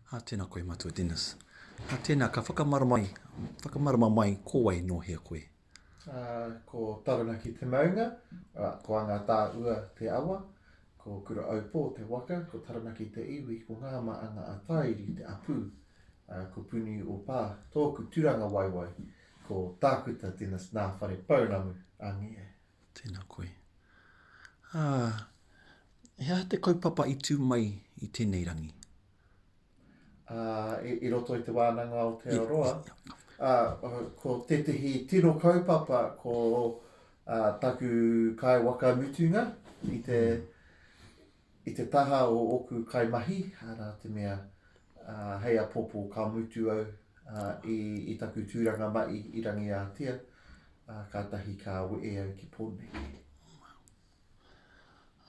Ā, tēnā koe Matua Dennis. Ā, tēnā, ka whakamarama, whakamarama mai ko wai nō hea koe? Ā, ko Taranaki te maunga, ā, ko Angatā-ua te awa, ko Kura-aupō te waka, ko Taranaki te iwi, ko Ngā Maanga a Tāiri te apū, ā, ko Puni-o-Pā tōku tūrangawaewae, ko Tākuta Dennis nā Wharepounamu, angie. Tēnā koe. Ā, he aha te kaupapa i tū mai i tēnei rangi? Ā, i, i roto i te wānanga o Aotearoa, ā, ko tētehi tino kaupapa ko ā, taku kai waka mutunga i te, i te taha o oku kaimahi, ara te mea hei apopo ka mutu au i taku turanga mai i Rangiātea, katahi ka wee au ki Poneke.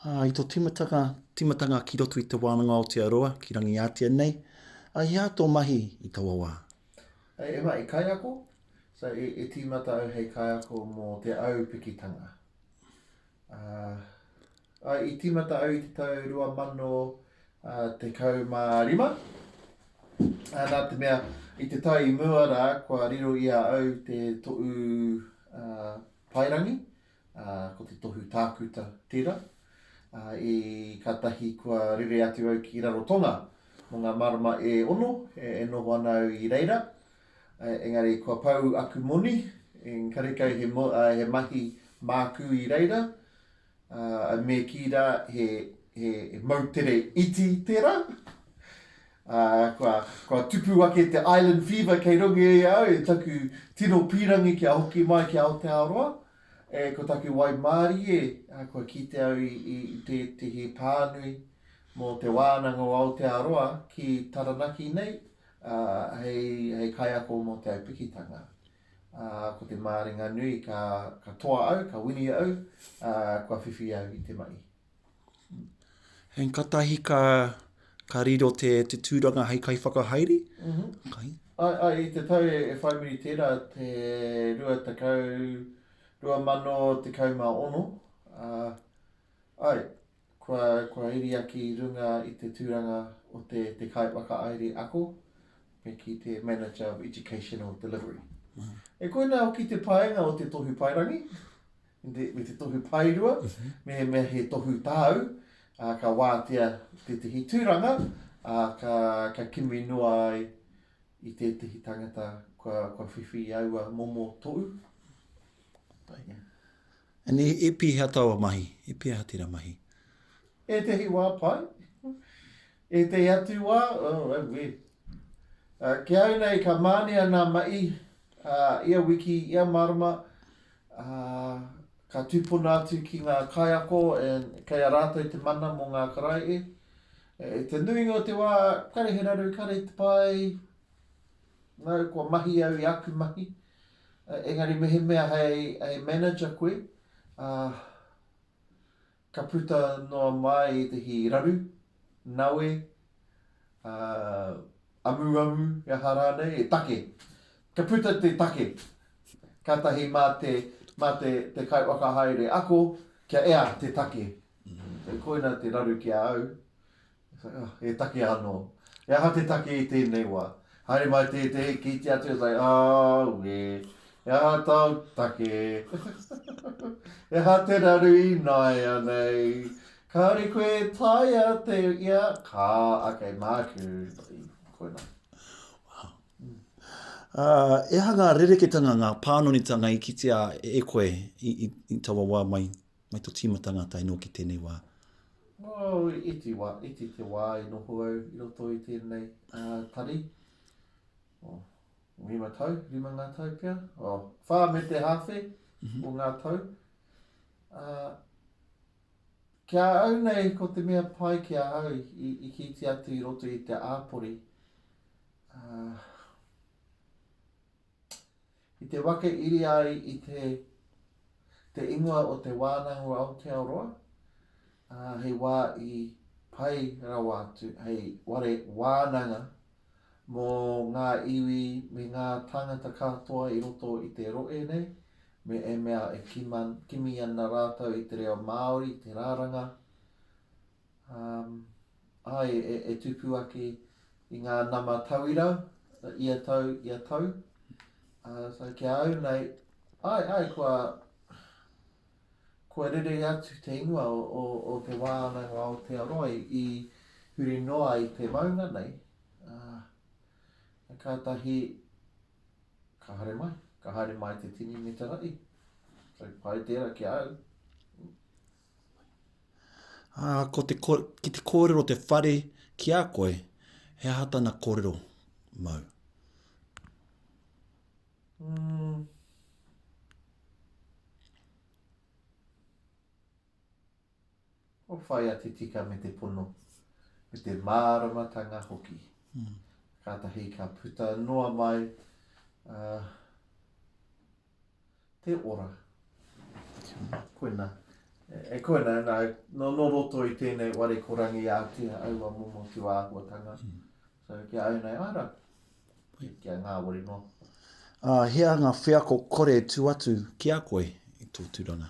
I to timatanga ki roto i te wānanga Aotearoa ki Rangiātea nei, i hea to mahi i taua wā? E ma, i kaiako, so i timata au hei kaiako mo te aupikitanga. Ā, i tīmata au i te tau 2015, ā, nā te mea, i te tau i mua rā, kua riro i a au te tohu paerangi, ā, ko te tohu tākuta tērā, ā, i kātahi kua rere atu au ki Rarotonga mō ngā marama e ono e noho ana au i reira. Engari kua pau aku moni, engari kai he mahi māku i reira, me kī rā he moutere iti tērā. Kua tupu ake te island fever kei runga i a au i taku tino pīrangi kia hoki mai ki Aotearoa. Ko taku waimārie, kua kite au i tētehi pānui mō te wānanga o Aotearoa ki Taranaki nei, hei kaiako mō te aupikitanga. Ko te māringa nui ka toa au, ka wini au, kua whiwhi au i te mahi. Hei katahi ka riro te tūranga hei kaiwhakahaere? Mm-hmm. I te tau e, e whai muri tērā te rua tekau, rua mano tekau mā ono, uh, ai, Kua, kua riria ki runga i te tūranga o te, te kaiwhakahaere ako, me ki te Manager of Educational Delivery. Mm. E koina hoki te paenga o te tohu paerangi, me te tohu paerua, mm -hmm. me, me he tohu tāu, uh, ka wātea tētahi tūranga, uh, ka, ka kimi noa ai i tētahi tangata kua, kua whiwhi i aua momo tohu. Paenga. And e pihea taua mahi? E pihea tera mahi? Etehi wa pai. Etehi atu wa, oh awee. Ki au nei ka mania na mahi ia wiki, ia marama, ka tupuna atu ki nga kaiako and kei a ratou te mana mo nga karaehe. I te nuinga o te wa, kare he raru, kare te pai, no, kua mahi au i aku mahi. Engari mehemea hei manager koe, ka puta noa mai ētehi raru, nawe, amuamu, he aha rānei, he take. Ka puta te take, kātahi mā te, mā te, te kaiwaka haere ako, kia ea te take. Koina te raru ki a au. Uhh, e takea anō. He aha te take i tēnei wā? Haere mai tētehi, kītia atu e tai, Aue, he aha tāu take? He aha te raru ināianei? Kāore koe e taea te ia? Kā, ok, māku. Koina. Uh, e aha ngā rereketanga, ngā pānonitanga i kitea e koe i, i, i taua wā mai? Mai to tīmata ngā tae noa ki tēnei wā. Oh, iti wā, iti te wā i noho au i roto i tēnei uh, tari. Oh, rima tau, rima ngā tau pia. Oh, whā me te hawhi mm -hmm. o ngā tau. Uh, kia au nei, ko te mea pai ki a au, i, i kīti atu i roto i te āpori, uh, I te wake iri ai i te te ingoa o te wānanga o Aotearoa, ā, hei wā i pai rawa atu hei ware wānanga mō ngā iwi me ngā tāngata katoa i roto i te rohe nei, me ēmea e kimi ana rātou i te reo Māori, te raranga, Ā, e tupu ake i ngā nama tauira ia tau, ia tau. Ā, so ki a au nei, āe, āe, kua, kua rere atu te ingoa o, o, o te wānanga o Aotearoa i huri noa i te maunga nei. Ā, kātahi, ka haere mai, ka haere mai te tini me te ra'i. So, pai tērā ki a au. Ā, ko te, ki te kōrero te whare ki a koe, he aha tana kōrero mau? Mm. O whai a te tika me te pono, me te māramatanga hoki. Mm. Kātahi ka puta noa mai, uh, te ora. Koina. E koina, nā, no, no roto i tēnei ware ko rangi ātea aua momo tūāhuatanga. Mm. So, kia au nei, ara, kia ngāwari noa. Uh, hea ngā wheako kore tu atu ki a koe i tō tūranga?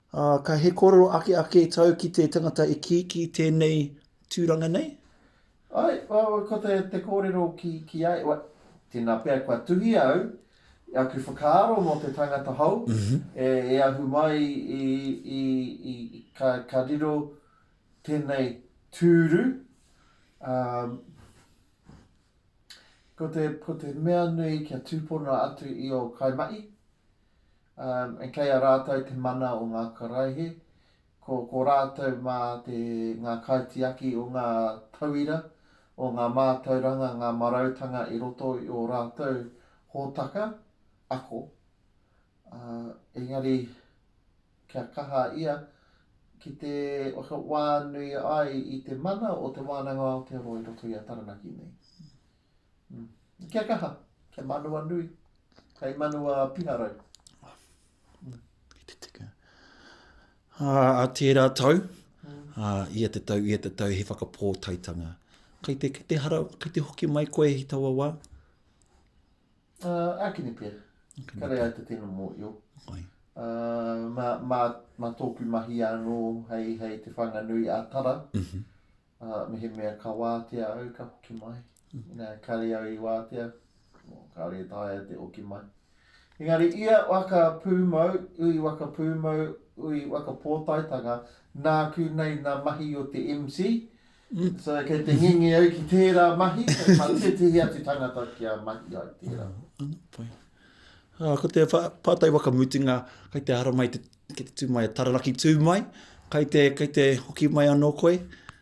Ā, ka he kōrero ake ake tau ki te tangata e kī ki tēnei tūranga nei? Āe, ko te, te kōrero ki, ki a, wai, tēnā pea kua tuhia au i aku whakaaro mō te tangata hou e, e ahu mai i, i, i, i ka, ka riro tēnei tūru, ā, ko te, ko te mea nui kia tūpono atu i ō kaimahi, Ā, kei a rātou te mana o ngā karaehe, ko, ko rātou mā te, ngā kaitiaki o ngā tauira, o ngā mātauranga, ngā marautanga i roto i ō rātou hōtaka, ako. Ā, engari, kia kaha ia ki te whakawānui ai i te mana o Te Wānanga o Aotearoa i roto i a Taranaki nei. Kia kaha, kia manua nui, kai manua piharau. Ki te tika. Uh, a tērā tau, uh, ia te tau, ia te tau, he whakapōtaitanga. Kai te, kai te hara, kai te hoki mai koe i taua wā? Uh, akini pia. Akini Kare ai te tino mō io. Kai. Uh, ma, ma, ma tōku mahi anō hei, hei te whanganui a Tara. Mm -hmm. Ā, mehemea ka wātea au, ka hoki mai. Inā kāore au i wātea, kāore e taea te hoki mai. Engari ia waka pūmau, ui waka pūmau, ui waka pōtaetanga, nāku nei nā mahi o te MC, so kei te ngenge au ki tērā mahi, kei tā tētehi atu tangata kia mahi ai tērā. Ā, ko te pātai whakamutunga, kai te haramai te, ki te tū mai a Taranaki tū mai, kai te, kai te hoki mai anō koe?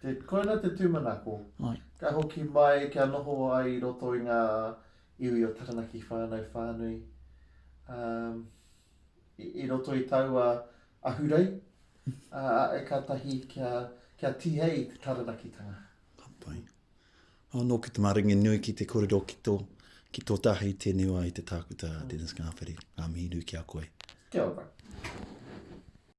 Te, koina te tūmanako. Ai. Ka hoki mai, kia noho ai i roto i ngā iwi o Taranaki whānau whānui, ā, i, i roto i taua ahurei, ā, ā, kātahi kia, kia tihei te Taranakitanga. Ka pai. Anō ki te maringi nui ki te kōrero ki tō, ki tō tahi tēnei wā i te tākuta Dennis Ngāwheri. Ngā mihi nui ki a koe. Kia ora.